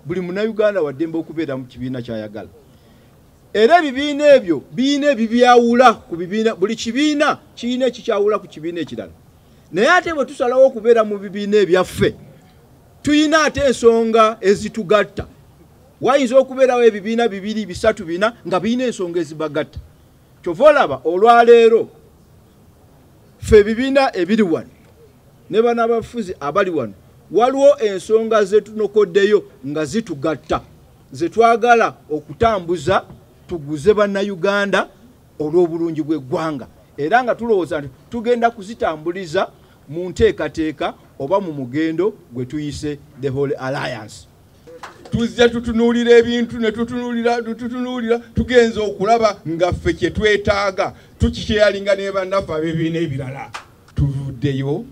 buli munauganda waddembe okubeera mu kibiina kyayagala era ebibiina ebyo biina ebibyawula ku bibiina buli kibiina kirina ekikyawula ku kibiina ekirala naye ate bwe tusalawo okubeera mu bibiina ebyaffe tuyina ate ensonga ezitugatta wayinza okubeerawo ebibiina bibiri bisatu bina nga birina ensonga ezibagatta kyova olaba olwaleero fe ebibiina ebiri wano ne bana abafuzi abali wano waliwo ensonga zetunokoddeyo nga zitugatta zetwagala okutambuza tuguze bannayuganda olw'obulungi bw'eggwanga era nga tulowooza nti tugenda kuzitambuliza mu nteekateeka oba mu mugendo gwe tuyise the whole alliance tuzze tutunuulira ebintu ne tutunuulira tutunuulira tugenza okulaba nga ffe kye twetaaga tukikyeyalinga ne bannaffe abebiina ebirala tuvuddeyo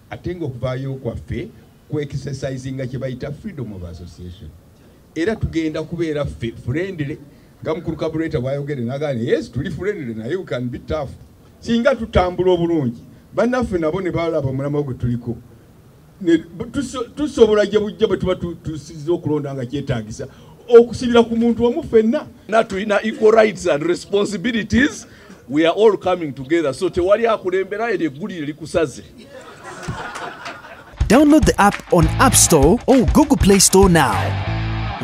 ate nga okuvaayo kwaffe kuexercisinga kye bayita freedom of association era tugenda kubeera ffe friendly nga mukulu kabuleeta bwayogere nagane yes tuli friendly naye we can be tough singa tutambula obulungi bannaffe nabo ne balaba omulamwa gwe tuliko tusobola gye bujja bwe tuba tusiza okulonda nga kyetagisa okusibira ku muntu omu fenna natulina equal rights and responsibilities we are all coming together so tewali akulembera eryo eggulire likusaze download the app on app store or google play store now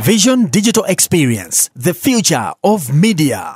vision digital experience the future of media